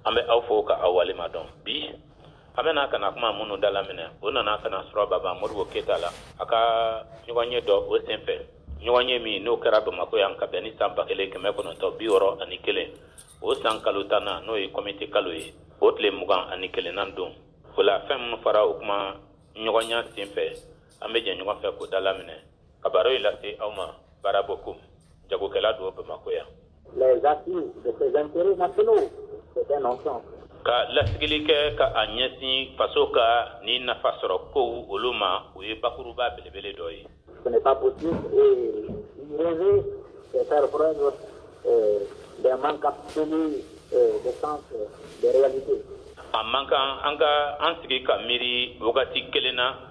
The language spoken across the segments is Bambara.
an bɛ aw fo ka aw waleɲuman dɔn bi an bɛna ka na kuma minnu da laminɛ o nana ka na sɔrɔ baba modibo keyita la a ka ɲɔgɔnye dɔ o sen fɛ ɲɔgɔnye min n'o kɛra bamakɔ yan ka bɛn ni san ba kelen kɛmɛ kɔnɔntɔn bi wɔɔrɔ ani kelen o san kalo tannan n'o ye kɔmite kalo ye o tile mugan ani kelennan don o la fɛn minnu fɔra o kumaɲɔgɔnya sen fɛ an bɛ jɛ ɲɔgɔn fɛ k'o da laminɛ ka baro in lase aw ma bara bokum jagokɛla don bamakɔ yan les acquis de ses intérêts nationaux c'est un ensemble ka lasigili kɛ ka a ɲɛsin faso ka ni nafa sɔrɔ kow olu ma o ye bakuruba belebele dɔ ye ce n'est pas possible et rêver c'est faire preuve euh, d'un manque absolu euh, de sens euh, de réalité a man kan an ka an sigi ka miiri wagati kelen na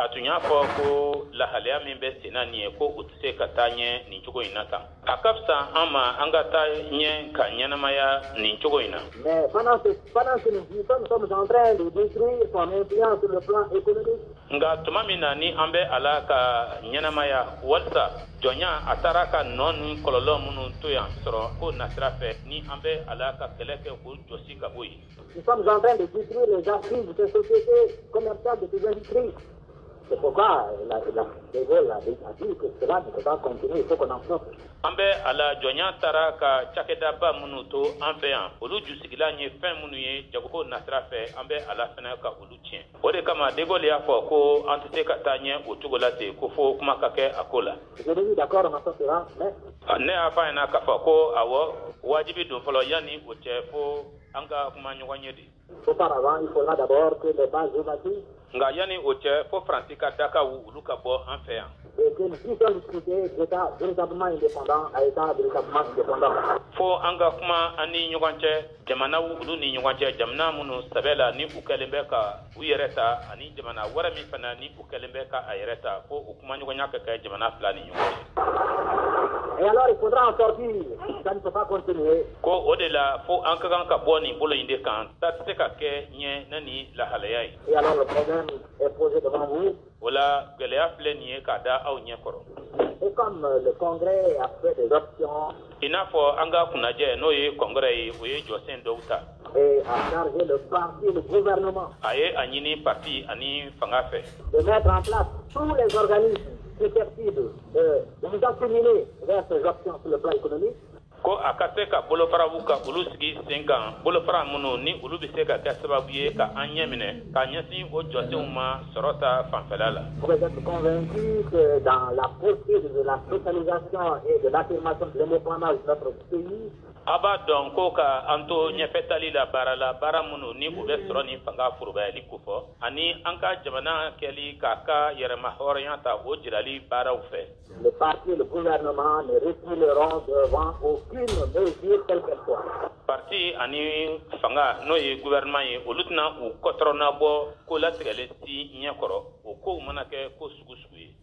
a tun y'a fɔ ko lahalaya min bɛ sen na nin ye ko u tɛ se ka taa ɲɛ nin cogo in na tan a ka fisa an ma an ka taa ɲɛ ka ɲɛnamaya nin cogo in na nka tuma min na ni an bɛ a la ka ɲɛnamaya walisa jɔnya a taara ka nɔ ni kɔlɔlɔ minnu to yan sɔrɔko nasira fɛ ni an bɛ a la ka kɛlɛ kɛ k'o jɔsi ka bɔ yen Nous sommes en train de détruire les assises de ces sociétés commerciales de ces industries. C'est pourquoi la, la, De Gaulle a dit que cela ne peut pas continuer, il faut qu'on en sorte. an bɛ a la jɔnya taara ka cakɛdaba minnu to an fɛ yan olu jusigilan ye fɛn minnu ye jagoko nasira fɛ an bɛ a la fana ka olu tiɲɛ o de kama degol y'a fɔ ko an tɛ se ka taa ɲɛ o cogo la ten ko fo kuma ka kɛ a ko la ne y'a fɔ a ɲɛna k'a fɔ ko awɔ wajibi don fɔlɔ yanni o cɛ fo An ka kuma ɲɔgɔn ye de nka yanni o cɛ fo faransi ka dakaw olu ka bɔ an fɛ yan fo an ka kuma an ni ɲɔgɔn cɛ jamanaw olu ni ɲɔgɔn cɛ jamana minnu sɛbɛ la ni u kɛlen bɛ ka u yɛrɛ ta ani jamana wɛrɛ min fana ni u kɛlen bɛ ka a yɛrɛ ta fo u kumaɲɔgɔnya ka kɛ jamana fila ni ɲɔgɔn cɛ Et alors, il faudra en sortir. Ça ne peut pas continuer. ko o de la fo an ka kan ka bɔ nin bolo in de kan taa tɛ se ka kɛ ɲɛ na ni lahalaya ye Et alors, le problème est posé devant vous. O la gɛlɛya filɛ nin ye k'a da aw ɲɛ kɔrɔ. Et comme euh, le congrès a fait des options. I n'a fɔ an ka kunajɛ n'o ye kɔngrɛ ye o ye jɔsen dɔw ta. Et a chargé le parti le gouvernement. A ye a ɲini parti ani fanga fɛ. De mettre en place tous les organismes susceptibles de nous acheminer vers ces options sur le plan économique. ko a ka se ka bolofaraw ka olu sigi sen kan bolofara minnu ni olu bɛ se ka kɛ sababu ye ka an ɲɛ minɛ ka ɲɛsin o jɔsenw ma sɔrɔ ta fanfɛla la. Vous êtes convaincus que dans la poursuite de la socialisation et de l'affirmation de l'indépendance de notre pays, a b'a dɔn ko ka an to ɲɛfɛtali la baara la baara minnu ni u bɛ sɔrɔ ni fanga forobayali kofɔ ani an ka jamana kɛli k'a ka yɛrɛmahɔrɔnya ta o jirali baaraw fɛ Le parti et le gouvernement ne reculeront devant aucune mesure quelle qu'elle soit. Parti ani fanga n'o ye gouvernement ye olu tɛna u kɔtɔrɔna bɔ ko latigɛlen si ɲɛ kɔrɔ o kow mana kɛ ko sugu sugu ye.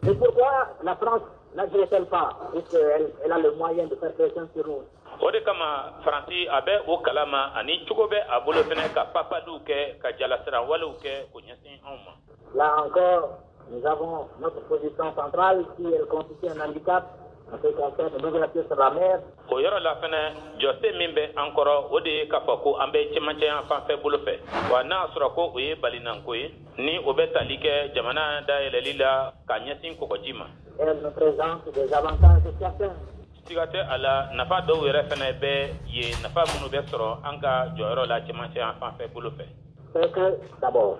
Et pourquoi la France n'agit-elle pas puisqu'elle elle a le moyen de faire pression sur nous. o de kama faransi a bɛ o kalama ani cogo bɛ a bolo fɛnɛ ka papaliw kɛ ka jalasiran walew kɛ k'o ɲɛsin anw ma. Là encore, Nous avons notre position centrale si elle constitue un handicap en ce qui concerne l'ouverture sur la mer. O yɔrɔ la fɛnɛ jɔsen min bɛ an kɔrɔ o de ye k'a fɔ ko an bɛ cɛmancɛya fanfɛ bolo fɛ wa n'a sɔrɔ ko o ye balinanko ye ni o bɛ tali kɛ jamana dayɛlɛli la ka ɲɛsin kɔgɔji ma. Elle nous présente des avantages certains. siga tɛ a la nafa dɔw yɛrɛ fɛnɛ bɛ yen nafa minnu bɛ sɔrɔ an ka jɔyɔrɔ la cɛmancɛya fanfɛ bolo fɛ. C'est que d'abord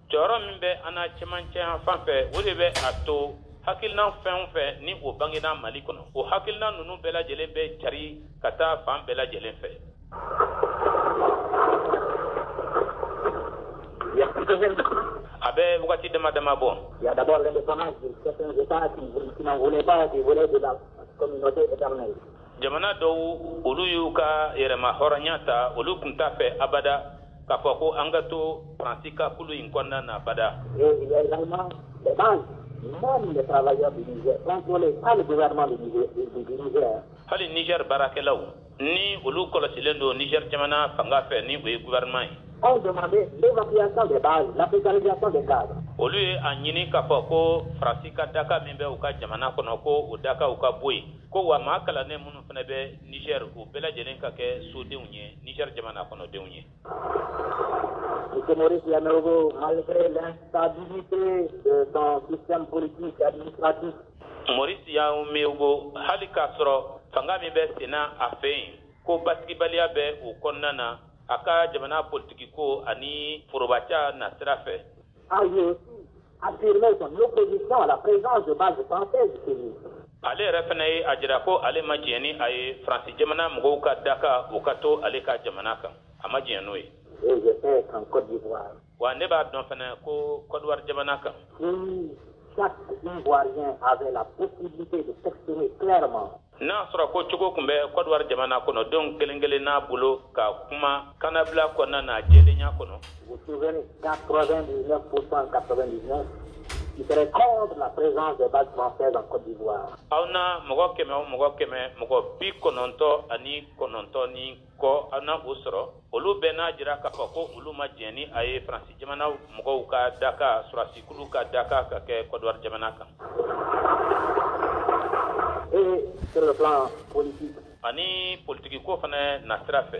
jɔyɔrɔ min bɛ an na cɛmancɛya fan fɛ o de bɛ a to hakilinan fɛn o fɛn ni o bangena mali kɔnɔ o hakilinan ninnu bɛɛ lajɛlen bɛ cari ka taa fan bɛɛ lajɛlen fɛ a bɛ wagati dama dama bɔ jamana dɔw olu y'u ka yɛrɛma hɔrɔnya ta olu tun t'a fɛ abada k'a fɔ ko an ka to faransi ka kulu in kɔnɔna na abada. Et il y a également les bases, même les travailleurs du Niger, contrôlés par le gouvernement du Niger, hali niger baarakɛlaw ni olu kɔlɔsilen don niger jamana fanga fɛ ni o ye gouvernement ye ont demandé l'évacuation des bases, l'africanisation des cadres olu ye a ɲini k'a fɔ ko faransi ka daka min bɛ u ka jamana kɔnɔ ko o dakaw ka bɔ yen ko wa maa kalannen minnu fana bɛ niger o bɛɛ lajɛlen ka kɛ sodenw ye niger jamana kɔnɔdenw ye Maurice Yaméogo, malgré l'instabilité de son système politique et administratif. Maurice Yaméogo, hali k'a sɔrɔ fanga min bɛ senna a fɛ yen ko basigibaliya bɛ o kɔnɔna na a ka jamana politikiko ani forobaca nasira fɛ a aussi affirmé son opposition à la présence de bases françaises chez lui. ale yɛrɛ fana ye a jira ko ale ma jɛn ni a ye faransi jamana mɔgɔw ka daka o ka to ale ka jamana kan a ma jɛn n'o ye. Et je sais qu'en Côte d'Ivoire, wa ne b'a dɔn fana ko kɔdiwari jamana kan N'a sɔrɔ ko cogo tun bɛ Kɔdiwari jamana kɔnɔ denw kelen kelenna bolo ka kuma kannabila kɔnɔna na jɛlenya kɔnɔ. Aw na mɔgɔ kɛmɛ o mɔgɔ kɛmɛ mɔgɔ bi kɔnɔntɔn ani kɔnɔntɔn ni kɔ aw na o sɔrɔ olu bɛɛ n'a jira k'a fɔ ko olu ma jɛn ni a ye faransi jamana mɔgɔw ka daga sɔrɔdasikulu ka daga ka kɛ Kɔdiwari jamana kan ani politikiko fana nasira fɛ